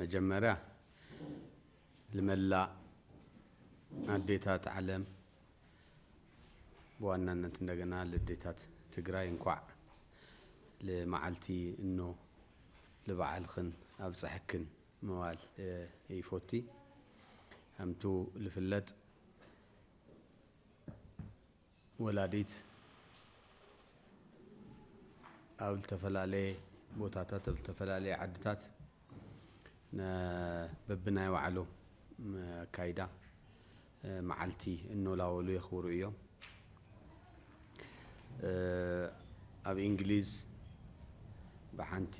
መጀመርያ ልመላእ ኣዴታት ዓለም ብዋናነት እንደገና ልዴታት ትግራይ እንኳዕ ልመዓልቲ እኖ ልበዓልኽን ኣብፀሐክን ምባል ይፎቲ። ከምቱ ልፍለጥ ወላዲት ኣብ ዝተፈላለየ ቦታታት ኣብ ዝተፈላለየ ዓድታት በብናይ ባዕሉ ኣካይዳ መዓልቲ እኖላወሉ የኽብሩ እዮም። ኣብ እንግሊዝ ብሓንቲ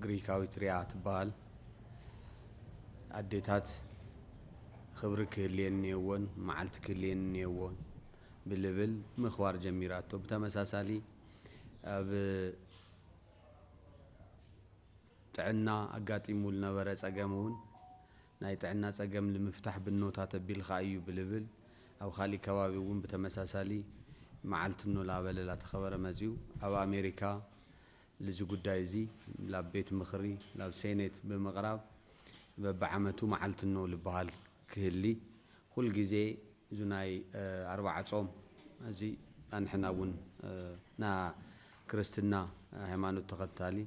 ግሪካዊት ሪያ ትበሃል ኣዴታት ኽብሪ ክህልየን እኒኦዎን መዓልቲ ክህልየን እኒኦዎን ብልብል ምኽባር ጀሚራቶ ብተመሳሳሊ ኣብ ጥዕና ኣጋጢሙ ዝነበረ ፀገም እውን ናይ ጥዕና ፀገም ልምፍታሕ ብኖታ ተቢልኻ እዩ ብልብል ኣብ ኻሊእ ከባቢ እውን ብተመሳሳሊ መዓልቲ ኖ ላበለ ላተኸበረ መፂኡ ኣብ ኣሜሪካ ልዚ ጉዳይ እዚ ላብ ቤት ምኽሪ ላብ ሴኔት ብምቕራብ በቢዓመቱ መዓልቲ ኖ ልበሃል ክህሊ ኹል ጊዜ ዙናይ ኣርባዓ ፆም እዚ ኣንሕና እውን ና ክርስትና ሃይማኖት ተኸታሊ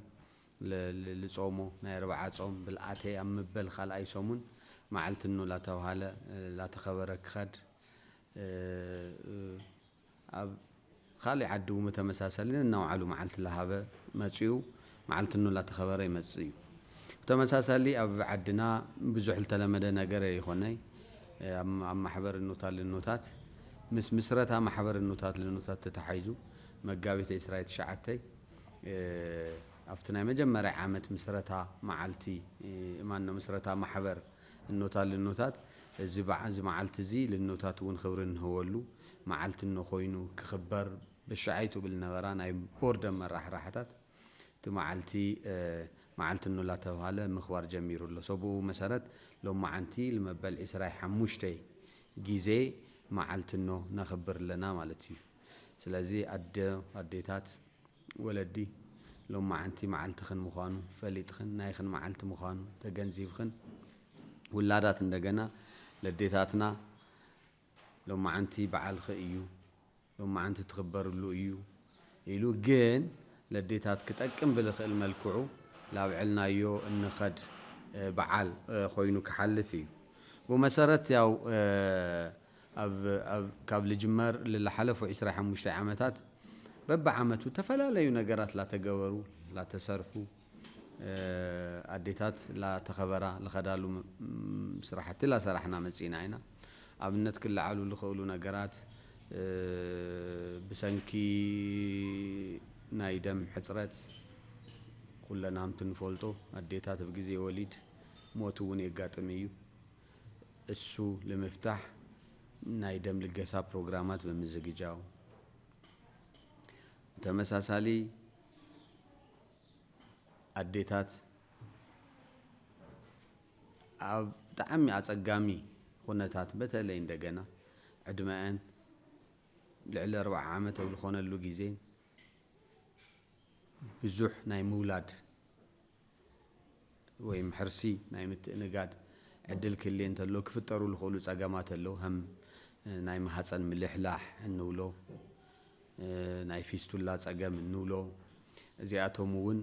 ልጾሞ ናይ ኣርብዓ ጾም ብልኣተይ ኣብ ምበል ካልኣይ ሰሙን መዓልቲ እኖ ላተብሃለ ላተኸበረ ክኸድ ኣብ ኻሊእ ዓዲ እው ተመሳሳሊ ነናውዓሉ መዓልቲ ላሃበ መጺኡ መዓልቲ እኖ ላተኸበረ ይመጽእ እዩ። ብተመሳሳሊ ኣብ ዓድና ብዙሕ ልተለመደ ነገር ኣይኾነይ ኣብ ማሕበር እኖታት ልኖታት ምስ ምስረታ ማሕበር እኖታት ልኖታት ተታሓይዙ መጋቢት ዕስራ ትሽዓተ፣ ኣብቲ ናይ መጀመርያ ዓመት ምስረታ መዓልቲ ማኖ ምስረታ ማሕበር እኖታት ልኖታት እዚ መዓልቲ እዚ ልኖታት እውን ክብሪ እንህበሉ መዓልቲ እኖ ኮይኑ ክኽበር በሻዓይቱ ብል ነበራ ናይ ቦርድ ኣመራሕራሕታት እቲ መዓልቲ መዓልቲ እኖ ላተብሃለ ምኽባር ጀሚሩ ኣሎ ሰብኡ መሰረት ሎማዓንቲ ልመበል ዕስራይ ሓሙሽተይ ጊዜ መዓልቲ እኖ ነኽብር ኣለና ማለት እዩ። ስለዚ ኣደ ኣዴታት ወለዲ ሎማዓንቲ ማዓልትኽን ምዃኑ ፈሊጥኽን ናይኽን ማዓልቲ ምዃኑ ተገንዚብኽን ውላዳት እንደገና ለዴታትና ሎማዓንቲ ባዓልኺ እዩ ሎማዓንቲ ትኽበርሉ እዩ ኢሉ ግን ለዴታት ክጠቅም ብልኽእል መልክዑ ላብዐልናዮ እንኸድ ባዓል ኾይኑ ክሓልፍ እዩ ብመሰረት ያው ኣብ ኣብ ካብ ልጅመር ልላሓለፉ ዕስራይ ሓሙሽታይ ዓመታት በብዓመቱ ተፈላለዩ ነገራት ላተገበሩ ላተሰርሑ ኣዴታት ላተኸበራ ልኸዳሉ ስራሕቲ ላሰራሕና መፂእና ኢና። ኣብነት ክለዓሉ ልኸእሉ ነገራት ብሰንኪ ናይ ደም ሕፅረት ኹለና ሀምቲ ንፈልጦ ኣዴታት ኣብ ግዜ ወሊድ ሞት እውን የጋጥም እዩ። እሱ ልምፍታሕ ናይ ደም ልገሳ ፕሮግራማት ብምዝግጃው፣ ብተመሳሳሊ ኣዴታት ኣብ ብጣዕሚ ኣጸጋሚ ኹነታት በተለይ እንደገና ዕድመኣን ልዕሊ ኣርብዓ ዓመት ኣብ ዝኾነሉ ግዜ ብዙሕ ናይ ምውላድ ወይም ሕርሲ ናይ ምትእንጋድ ዕድል ክህሊ እንተሎ ክፍጠሩ ዝኽእሉ ጸገማት ኣለዉ። ከም ናይ ማህጸን ምልሕላሕ እንብሎ፣ ናይ ፊስቱላ ጸገም እንብሎ፣ እዚኣቶም እውን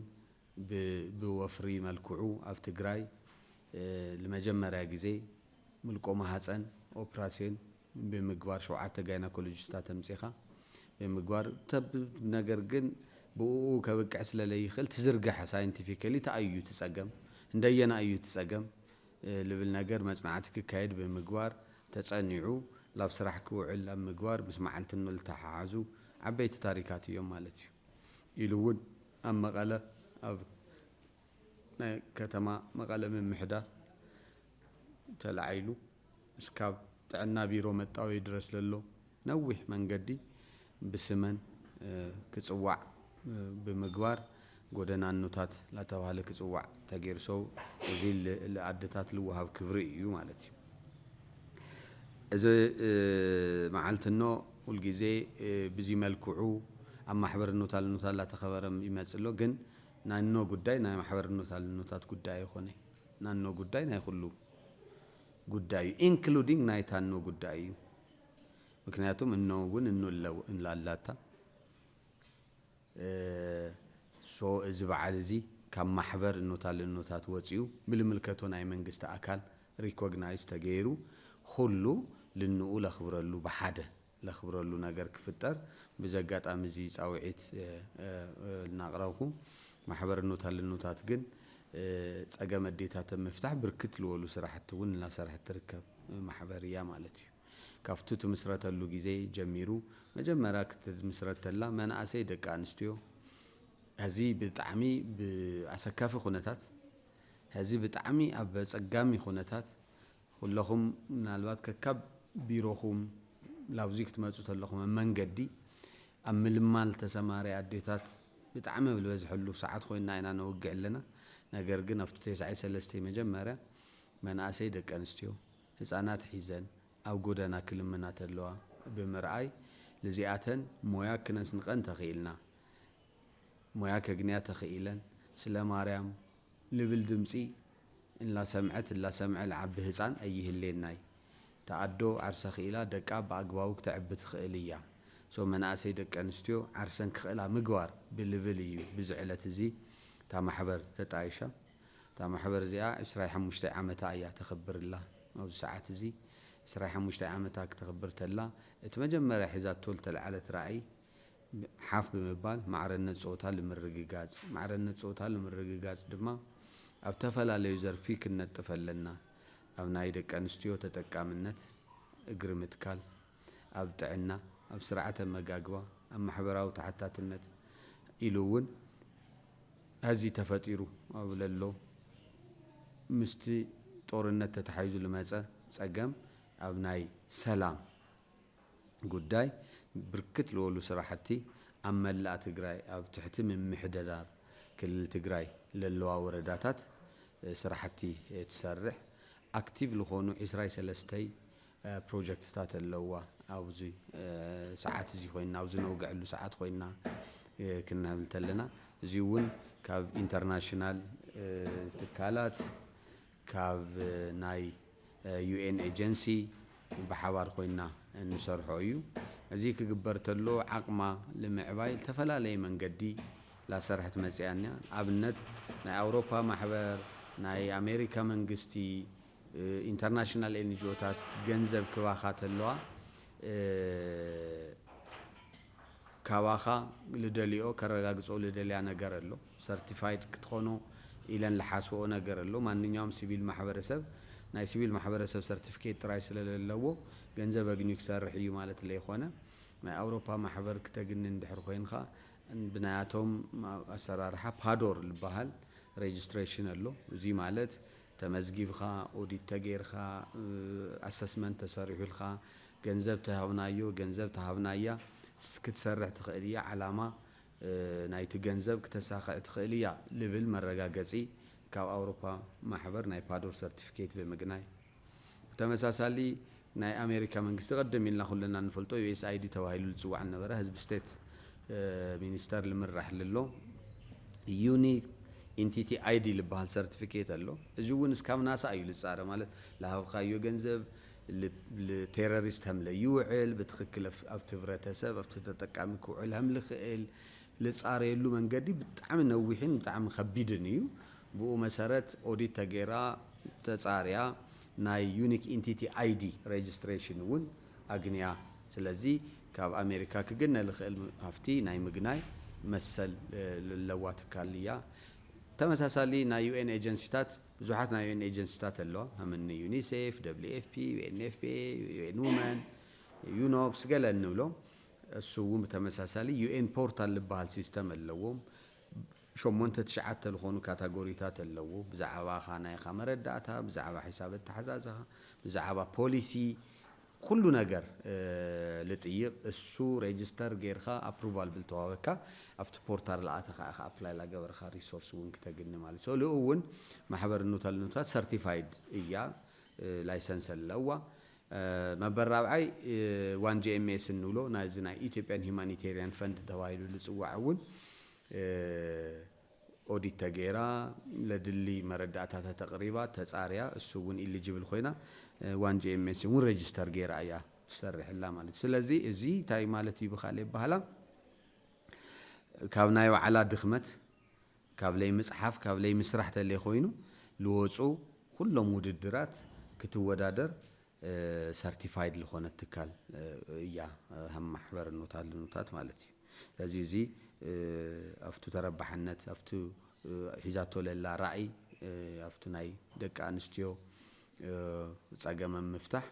ብወፍሪ መልክዑ ኣብ ትግራይ ንመጀመርያ ግዜ ምልቆ ማህጸን ኦፕራስዮን ብምግባር ሸውዓተ ጋይናኮሎጂስታት ኣምጺኻ ብምግባር ተብ ነገር ግን ብኡኡ ከብቅዕ ስለ ለይክእል ትዝርገሐ ሳይንቲፊከሊ ታይ እዩ እቲ ጸገም እንደየናይ እዩ እቲ ጸገም ልብል ነገር መጽናዕቲ ክካየድ ብምግባር ተጸኒዑ ላብ ስራሕ ክውዕል ኣብ ምግባር ምስ መዓልቲ ንልተሓሓዙ ዓበይቲ ታሪካት እዮም ማለት እዩ ኢሉ እውን ኣብ መቐለ ኣብ ናይ ከተማ መቐለ ምምሕዳር ተላዒሉ እስካብ ጥዕና ቢሮ መጣወዪ ድረስ ለሎ ነዊሕ መንገዲ ብስመን ክፅዋዕ ብምግባር ጎደና እኖታት ላተብሃለ ክፅዋዕ ተገይሩ ሰው እዚ ልኣደታት ልወሃብ ክብሪ እዩ ማለት እዩ እዚ መዓልቲ እኖ ሁልጊዜ ብዚ መልክዑ ኣብ ማሕበር እኖታ ልኖታት ላተኸበረ ይመፅእ ኣሎ ግን ናይ እኖ ጉዳይ ናይ ማሕበር እኖታ ልኖታት ጉዳይ ኣይኾነይ። ናኖ ጉዳይ ናይ ኹሉ ጉዳይ እዩ ኢንክሉዲንግ ናይ ታኖ ጉዳይ እዩ ምክንያቱም እኖ እውን እኖ ኣላታ ሶ እዚ በዓል እዚ ካብ ማሕበር እኖታል እኖታት ወፂኡ ብልምልከቶ ናይ መንግስቲ ኣካል ሪኮግናይዝ ተገይሩ ኹሉ ልንኡ ለኽብረሉ ብሓደ ለኽብረሉ ነገር ክፍጠር ብዚ ኣጋጣሚ እዚ ፃውዒት ልናቕረብኩ። ማሕበርኖት ኣለኖታት ግን ፀገም ኣዴታት ኣብ ምፍታሕ ብርክት ልወሉ ስራሕቲ እውን እናሰርሐት ትርከብ ማሕበር እያ ማለት እዩ። ካፍቱ ትምስረተሉ ግዜ ጀሚሩ መጀመርያ ክትምስረት ተላ መናእሰይ ደቂ ኣንስትዮ ሀዚ ብጣዕሚ ብኣሰካፊ ኩነታት ሀዚ ብጣዕሚ ኣብ ኣፀጋሚ ኩነታት ኩለኹም ምናልባት ከካብ ቢሮኹም ላብዙይ ክትመጹ ተለኹም ኣብ መንገዲ ኣብ ምልማል ተሰማሪ ኣዴታት ብጣዕሚ ኣብ ልበዝሐሉ ሰዓት ኮይንና ኢና ነውግዕ ኣለና ነገር ግን ኣብቱ ቴስዓይ ሰለስተይ መጀመርያ መናእሰይ ደቂ ኣንስትዮ ህጻናት ሒዘን ኣብ ጎደና ክልምና ተለዋ ብምርኣይ ልዚኣተን ሞያ ክነስንቀን ተኺኢልና ሞያ ከግንያ ተኺኢለን ስለ ማርያም ልብል ድምጺ እላሰምዐት እላሰምዐ ልዓቢ ህጻን ኣይህሌናይ እታ ኣዶ ዓርሳ ኪኢላ ደቃ ብኣግባቡ ክተዕቢ ትክእል እያ so መናእሰይ ደቂ ኣንስትዮ ዓርሰን ክክእላ ምግባር ብልብል እዩ ብዚ ዕለት እዚ እታ ማሕበር ተጣይሻ እታ ማሕበር እዚኣ ዕስራይ ሓሙሽተይ ዓመታ እያ ተክብር እላ ኣብዚ ሰዓት እዚ ዕስራይ ሓሙሽተይ ዓመታ ክተክብር ተላ እቲ መጀመርያ ሒዛቶ ልተልዓለት ራእይ ሓፍ ብምባል ማዕረነት ፆታ ልምርግጋፅ ማዕረነት ፆታ ልምርግጋፅ ድማ ኣብ ተፈላለዩ ዘርፊ ክንነጥፍ ኣለና ኣብ ናይ ደቂ ኣንስትዮ ተጠቃምነት እግሪ ምትካል ኣብ ጥዕና ኣብ ስርዓተ ኣመጋግባ ኣብ ማሕበራዊ ተሓታትነት ኢሉ እውን ሀዚ ተፈጢሩ ኣብ ለሎ ምስቲ ጦርነት ተተሓሒዙ ልመፀ ፀገም ኣብ ናይ ሰላም ጉዳይ ብርክት ልበሉ ስራሕቲ ኣብ መላእ ትግራይ ኣብ ትሕቲ ምምሕደዳር ክልል ትግራይ ለለዋ ወረዳታት ስራሕቲ ትሰርሕ ኣክቲቭ ልኾኑ ዕስራይ ሰለስተይ ፕሮጀክትታት ኣለውዋ ኣብዚ ሰዓት እዚ ኮይና ኣብዚ ነውገዐሉ ሰዓት ኮይና ክንብል ተለና እዚውን ካብ ኢንተርናሽናል ትካላት ካብ ናይ UN ኤጀንሲ ብሓባር ኮይና እንሰርሖ እዩ። እዚ ክግበር ተሎ ዓቕማ ልምዕባይ ልተፈላለየ መንገዲ ላሰርሐት መጺኣ እያ። ኣብነት ናይ ኣውሮፓ ማሕበር፣ ናይ ኣሜሪካ መንግስቲ፣ ኢንተርናሽናል ኤንጅኦታት ገንዘብ ክባኻ ተለዋ፣ ካባኻ ልደልኦ ከረጋግጾ ልደልያ ነገር ኣሎ ሰርቲፋይድ ክትኾኖ ኢለን ልሓስብኦ ነገር ኣሎ ማንኛውም ሲቪል ማሕበረሰብ ናይ ሲቪል ማሕበረሰብ ሰርቲፊኬት ጥራይ ስለለለዎ ገንዘብ ኣግንዩ ክሰርሕ እዩ ማለት ለይኾነ ናይ ኣውሮፓ ማሕበር ክተግኒ እንድሕር ኾይንኻ ብናያቶም ኣሰራርሓ ፓዶር ልበሃል ሬጅስትሬሽን ኣሎ እዙይ ማለት ተመዝጊብኻ፣ ኦዲት ተገይርካ፣ ኣሰስመንት ተሰሪሑልካ፣ ገንዘብ ተሃብናዮ፣ ገንዘብ ተሃብናያ፣ ክትሰርሕ ትኽእል እያ፣ ዓላማ ናይቲ ገንዘብ ክተሳኽዕ ትኽእል እያ ልብል መረጋገጺ ካብ ኣውሮፓ ማሕበር ናይ ፓዶር ሰርቲፊኬት ብምግናይ ብተመሳሳሊ ናይ ኣሜሪካ መንግስቲ ቀደም ኢልና ኩልና እንፈልጦ USAID ተባሂሉ ልጽዋዕ ልነበረ ህዝቢ ስቴት ሚኒስተር ልምራሕ ልሎ ዩኒክ ኢንቲቲ ኣይዲ ልበሃል ሰርትፊኬት ኣሎ። እዚ እውን እስካብ ናሳ እዩ ልጻረ ማለት ልሃብካዮ ገንዘብ ልቴረሪስት ሀም ለይውዕል ብትክክል ኣብቲ ህብረተሰብ ኣብቲ ተጠቃሚ ክውዕል ሀም ልክእል ልጻረየሉ መንገዲ ብጣዕሚ ነዊሕን ብጣዕሚ ከቢድን እዩ። ብኡ መሰረት ኦዲት ተገይራ ተጻርያ ናይ ዩኒክ ኢንቲቲ ኣይዲ ረጅስትሬሽን እውን ኣግንያ። ስለዚ ካብ ኣሜሪካ ክግነ ልኽእል ሃፍቲ ናይ ምግናይ መሰል ለለዋ ትካል እያ። ተመሳሳሊ ናይ ዩኤን ኤጀንሲታት ብዙሓት ናይ ዩኤን ኤጀንሲታት ኣለዋ ከም እኒ ዩኒሴፍ፣ ደብሊው ኤፍ ፒ፣ ዩኤንኤፍፒኤ፣ ዩኤን ውመን፣ ዩኖፕስ ገለ እንብሎም እሱ እውን ብተመሳሳሊ ዩኤን ፖርታል ልበሃል ሲስተም ኣለዎም። ሸሞንተ ትሽዓተ ልኾኑ ካታጎሪታት ኣለዉ፣ ብዛዕባኻ ናይኻ መረዳእታ፣ ብዛዕባ ሒሳብ ኣተሓዛዝኻ፣ ብዛዕባ ፖሊሲ ኩሉ ነገር ልጥይቅ እሱ ሬጅስተር ገይርካ ኣፕሩቫል ብልተዋበካ ኣብቲ ፖርታር ልኣተኻ ኢኻ ኣፕላይ ላገበርኻ ሪሶርስ ውን ክተግኒ ማለት እዩ ሰሉ እውን ማሕበር ኑተልኑታት ሰርቲፋይድ እያ ላይሰንስ ኣለዋ መበል ራብዓይ ዋን ጂኤምኤስ እንብሎ ናይዚ ናይ ኢትዮጵያን ሂማኒቴሪያን ፈንድ ተባሂሉ ልፅዋዕ እውን ኦዲት ተገይራ ለድሊ መረዳእታታ ተቅሪባ ተፃርያ እሱ እውን ኢሊጅብል ኮይና ዋን ጂኤምኤስ እውን ረጅስተር ገይራ እያ ትሰርሕላ ማለት እዩ ስለዚ እዚ እንታይ ማለት እዩ ብካልእ ኣባህላ ካብ ናይ ባዕላ ድክመት ካብ ለይምፅሓፍ ካብ ለይምስራሕ ተለይኮይኑ ልወፁ ኩሎም ውድድራት ክትወዳደር ሰርቲፋይድ ልኾነት ትካል እያ ሃም ማሕበር ኑታት ልኑታት ማለት እዩ ስለዚ እዚ ኣፍቱ ተረባሕነት ኣፍቱ ሒዛቶ ለላ ራእይ ኣፍቱ ናይ ደቂ ኣንስትዮ ጸገም ኣብ ምፍታሕ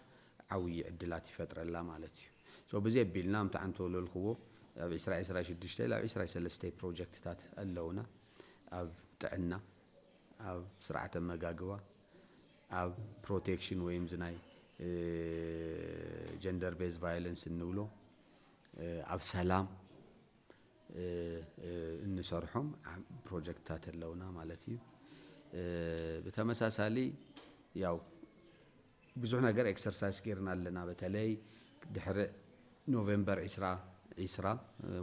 ዓውዪ ዕድላት ይፈጥረላ ማለት እዩ so ብዚ ኣቢልና ኣምቲ ዓንተ ወለልክዎ ኣብ ዕስራ ዕስራ ሽዱሽተ ላብ ዕስራ ሰለስተ ፕሮጀክትታት ኣለውና ኣብ ጥዕና ኣብ ስርዓተ ኣመጋግባ ኣብ ፕሮቴክሽን ወይ እዚ ናይ ጀንደር ቤዝ ቫይለንስ እንብሎ ኣብ ሰላም እንሰርሖም ፕሮጀክትታት ኣለውና ማለት እዩ። ብተመሳሳሊ ያው ብዙሕ ነገር ኤክሰርሳይዝ ጌርና ኣለና። በተለይ ድሕሪ ኖቬምበር ዒስራ ዒስራ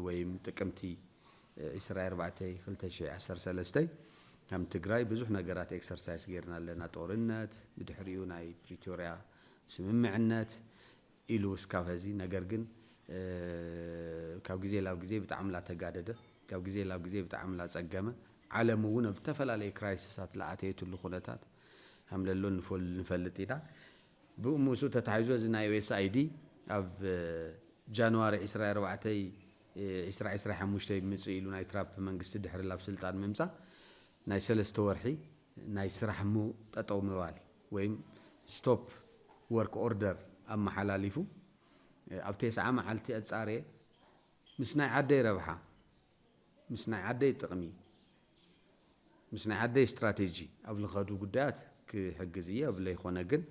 ወይም ጥቅምቲ ዒስራይ ኣርባዕተይ ክልተ ሽሕይ ዓሰርተ ሰለስተ ከም ትግራይ ብዙሕ ነገራት ኤክሰርሳይስ ገይርና ኣለና ጦርነት ብድሕሪኡ ናይ ፕሪቶርያ ስምምዕነት ኢሉ እስካብ ሀዚ ነገር ግን ካብ ግዜ ላብ ግዜ ብጣዕሚ ላተጋደደ ካብ ግዜ ላብ ግዜ ብጣዕሚ ላፀገመ ዓለም እውን ኣብ ዝተፈላለየ ክራይስሳት ላኣተየትሉ ኩነታት ከምለሎ ንፈልጥ ኢና ብኡ ምስኡ ተታሒዞ እዚ ናይ USAID ኣብ ጃንዋሪ ዕስራ ኣርባዕተ ዕስራ ዕስራ ሓሙሽተ ይምጽእ ኢሉ ናይ ትራፕ መንግስቲ ድሕሪ ላብ ስልጣን ምምጻእ ናይ ሰለስተ ወርሒ ናይ ስራሕ ም ጠጠው ምባል ወይም Stop Work Order ኣመሓላሊፉ ኣብ ቴስዓ መዓልቲ ኣጻርየ ምስ ናይ ዓደይ ረብሓ ምስ ናይ ዓደይ ጥቅሚ ምስ ናይ ዓደይ ስትራቴጂ ኣብ ልኸዱ ጉዳያት ክሕግዝ እየ እብል ለይኾነ ግን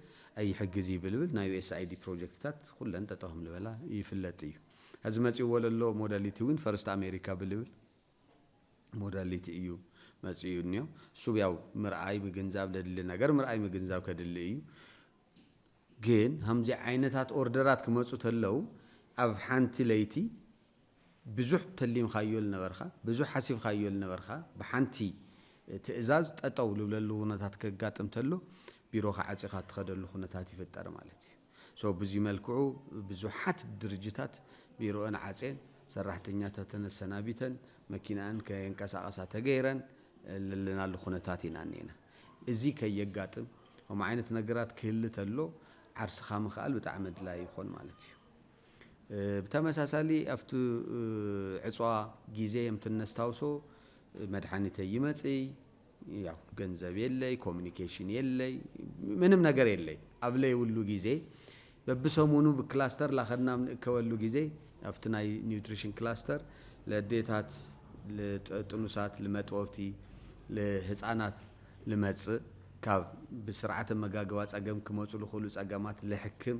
ኣይሕግዝ ይብልብል ናይ USAID ፕሮጀክትታት ኹለን ጠጠው ሀምልበላ ይፍለጥ እዩ። ሀዚ መፂኡዎ ለሎ ሞዳሊቲ እውን ፈርስት ኣሜሪካ ብልብል ሞዳሊቲ እዩ መፂኡ እኒኦ። እሱብ ያው ምርኣይ ምግንዛብ ለድሊ ነገር ምርኣይ ምግንዛብ ከድሊ እዩ። ግን ሀምዚ ዓይነታት ኦርደራት ክመፁ ተለው ኣብ ሓንቲ ለይቲ ብዙሕ ተሊምካዮ ልነበርካ፣ ብዙሕ ሓሲብካዮ ልነበርካ ብሓንቲ ትእዛዝ ጠጠው ልብለሉ ኩነታት ከጋጥም ተሎ ቢሮኻ ዓፂኻ እትኸደሉ ኩነታት ይፍጠር ማለት እዩ። So ብዙይ መልክዑ ብዙሓት ድርጅታት ቢሮእን ዓፄን ሰራሕተኛታተን ኣሰናቢተን መኪነኣን ከየንቀሳቐሳ ተገይረን ለለናሉ ኩነታት ኢና እኒኤና። እዙይ ከየጋጥም ከምኡ ዓይነት ነገራት ክህሊ ተሎ ዓርስኻ ምኽኣል ብጣዕሚ ኣድላይ ይኾን ማለት እዩ። ብተመሳሳሊ ኣብቲ ዕጽዋ ግዜ የምቲ እነስታውሶ መድሓኒተይ ይመጽይ ያው ገንዘብ የለይ ኮሚኒኬሽን የለይ ምንም ነገር የለይ ኣብ ለይብሉ ግዜ በብሰሙኑ ብክላስተር ላኸድና ኣብ ንእከበሉ ግዜ ኣብቲ ናይ ኒውትሪሽን ክላስተር ለዴታት ልጥኑሳት ልመጥወብቲ ልህጻናት ልመጽእ ካብ ብስርዓተ መጋግባ ጸገም ክመጹ ልኽእሉ ጸገማት ልሕክም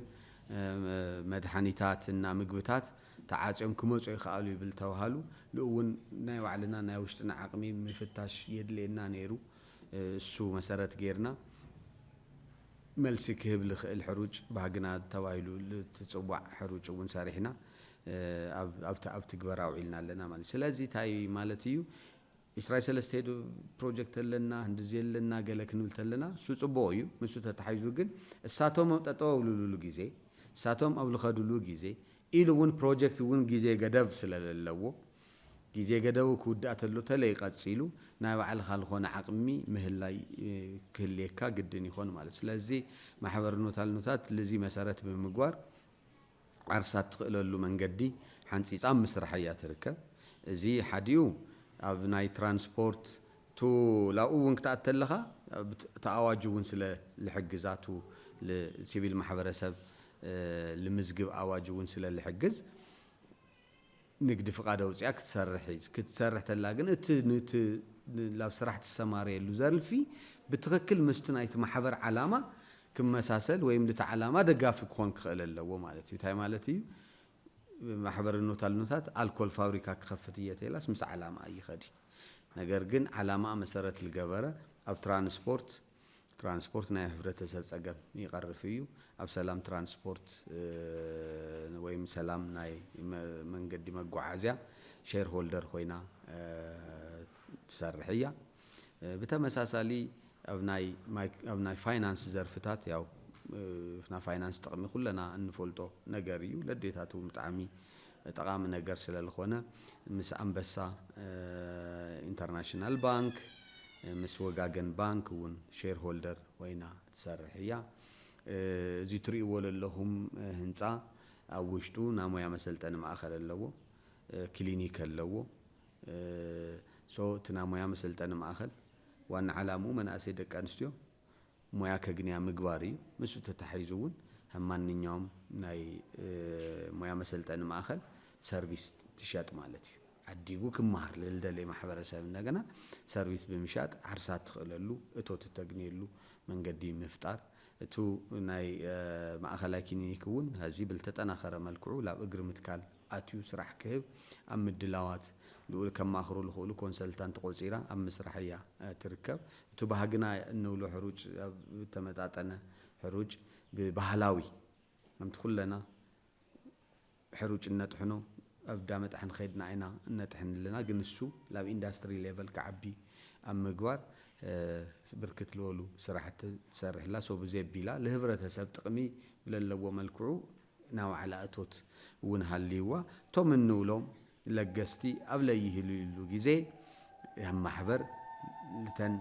መድሓኒታት እና ምግብታት ተዓፅዮም ክመፁ ይኸኣሉ ይብል ተብሃሉ ልኡውን ናይ ባዕልና ናይ ውሽጥና ዓቕሚ ምፍታሽ የድልየና ነይሩ እሱ መሰረት ገይርና መልሲ ክህብ ልኽእል ሕሩጭ ባህግና ተባሂሉ ልትፅዋዕ ሕሩጭ እውን ሰሪሕና ኣብ ትግበራ ኣውዒልና ኣለና ማለት እዩ ስለዚ ታይ ማለት እዩ ኢስራይ ሰለስተ ኢድ ፕሮጀክት ኣለና ህንድዚ ኣለና ገለ ክንብል ተለና እሱ ጽቡቁ እዩ ምሱ ተታሒዙ ግን እሳቶም ኣብ ጠጠው ኣብልሉሉ ግዜ እሳቶም ኣብ ልኸድሉ ግዜ ኢሉ እውን ፕሮጀክት እውን ግዜ ገደብ ስለለለዎ ግዜ ገደቡ ክውዳእ ተሎ ተለይ ቀጺሉ ናይ ባዕልኻ ልኾነ ዓቅሚ ምህላይ ክህልየካ ግድን ይኾን ማለት ስለዚ ማሕበርኖታልኖታት ልዚ መሰረት ብምግባር ዓርሳ እትኽእለሉ መንገዲ ሓንፂፃ ኣብ ምስራሕ እያ ትርከብ። እዚ ሓዲኡ ኣብ ናይ ትራንስፖርት ቱ ላኡ እውን ክትኣቲ ተለኻ እቲ ኣዋጅ እውን ስለ ልሕግዛ ቱ ል ሲቪል ማሕበረሰብ ልምዝግብ ኣዋጅ እውን ስለ ልሕግዝ። ንግዲ ፍቃድ ኣውጺኣ ክትሰርሕ እዩ። ክትሰርሕ ተላ ግን እቲ ንቲ ላብ ስራሕ ትሰማረየሉ ዘርፊ ብትክክል ምስቲ ናይቲ ማሕበር ዓላማ ክመሳሰል ወይም ንቲ ዓላማ ደጋፊ ክኮን ክክእል ኣለዎ ማለት እዩ። ታይ ማለት እዩ ማሕበር እኖታልኖታት ኣልኮል ፋብሪካ ክከፍት እየ ተይላስ ምስ ዓላማኣ ይከድ እዩ። ነገር ግን ዓላማኣ መሰረት ልገበረ ኣብ ትራንስፖርት፣ ትራንስፖርት ናይ ህብረተሰብ ፀገም ይቐርፍ እዩ። ኣብ ሰላም ትራንስፖርት ወይም ሰላም ናይ መንገዲ መጓዓዝያ ሼር ሆልደር ኮይና ትሰርሕ እያ። ብተመሳሳሊ ኣብ ናይ ኣብ ናይ ፋይናንስ ዘርፍታት ያው ናይ ፋይናንስ ጥቕሚ ኩለና እንፈልጦ ነገር እዩ። ለዴታትውን ብጣዕሚ ጠቓሚ ነገር ስለልኾነ ምስ ኣንበሳ ኢንተርናሽናል ባንክ ምስ ወጋገን ባንክ እውን ሼር ሆልደር ኮይና ትሰርሕ እያ። እዚ ትሪእዎ ለለኹም ህንፃ ኣብ ውሽጡ ናይ ሞያ መሰልጠኒ ማእኸል ኣለዎ፣ ክሊኒክ ኣለዎ። እቲ ናይ ሞያ መሰልጠኒ ማእኸል ዋና ዓላምኡ መናእሰይ ደቂ ኣንስትዮ ሞያ ከግንያ ምግባር እዩ። ምስኡ ተታሒዙ እውን ከም ማንኛውም ናይ ሞያ መሰልጠኒ ማእኸል ሰርቪስ ትሸጥ ማለት እዩ። ዓዲጉ ክመሃር ልልደለይ ማሕበረሰብ እንደገና ሰርቪስ ብምሻጥ ዓርሳ እትኽእለሉ እቶት እተግንየሉ መንገዲ ምፍጣር። እቱ ናይ ማእኸላይ ክሊኒክ እውን ሀዚ ብልተጠናኸረ መልክዑ ላብ እግሪ ምትካል። ኣትዩ ስራሕ ክህብ ኣብ ምድላዋት ልኡል ከማኽሩ ልኽእሉ ኮንሰልታንት ቆጺራ ኣብ ምስራሕ እያ ትርከብ። እቱ ባህግና እንብሎ ሕሩጭ ኣብ እተመጣጠነ ሕሩጭ ብባህላዊ ከምቲ ኩለና ሕሩጭ እነጥሕኖ ኣብ እዳ መጣሕን ኸድና ኢና እነጥሕን ኣለና ግን እሱ ላብ ኢንዳስትሪ ሌቨል ክዓቢ ኣብ ምግባር ብርክት ልበሉ ስራሕቲ ትሰርሕ እላ ሶ ብዘይ ኣቢላ ልህብረተሰብ ጥቅሚ ብለለዎ መልክዑ ናይ ዋዕላ እቶት እውን ሃልይዋ እቶም እንብሎም ለገስቲ ኣብ ለይህልዩሉ ግዜ እያ ማሕበር ልተን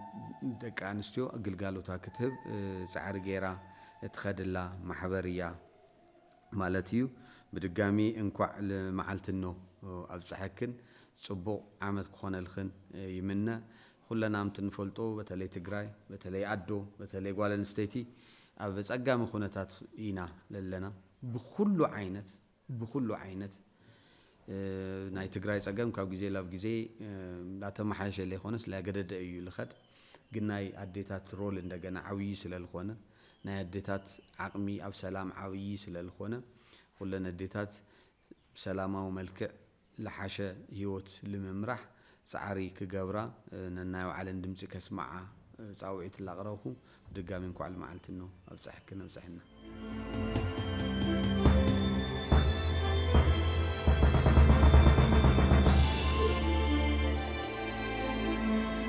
ደቂ ኣንስትዮ ግልጋሎታ ክትህብ ፃዕሪ ገይራ እትኸድላ ማሕበር እያ ማለት እዩ። ብድጋሚ እንኳዕ ልመዓልቲ እኖ ኣብፀሐክን ፅቡቕ ዓመት ክኾነልኽን ይምነ። ኹለና ምት ንፈልጦ በተለይ ትግራይ በተለይ ኣዶ በተለይ ጓል ኣንስተይቲ ኣብ ፀጋሚ ኹነታት ኢና ለለና ብኹሉ ዓይነት ብኹሉ ዓይነት ናይ ትግራይ ፀገም ካብ ግዜ ላብ ግዜ ላተማሓየሸ ለይኾነስ ላገደደ እዩ ልኸድ ግን ናይ ኣዴታት ሮል እንደገና ዓብዪ ስለልኾነ ናይ ኣዴታት ዓቕሚ ኣብ ሰላም ዓብዪ ስለልኾነ ኹለን ኣዴታት ብሰላማዊ መልክዕ ልሓሸ ህይወት ልምምራሕ ፃዕሪ ክገብራ ነናይ ባዕለን ድምፂ ከስምዓ ፃውዒት ላቅረብኹ ብድጋሚ እንኳዕ ልመዓልቲ እኖ ኣብፀሐክን ኣብፀሐና።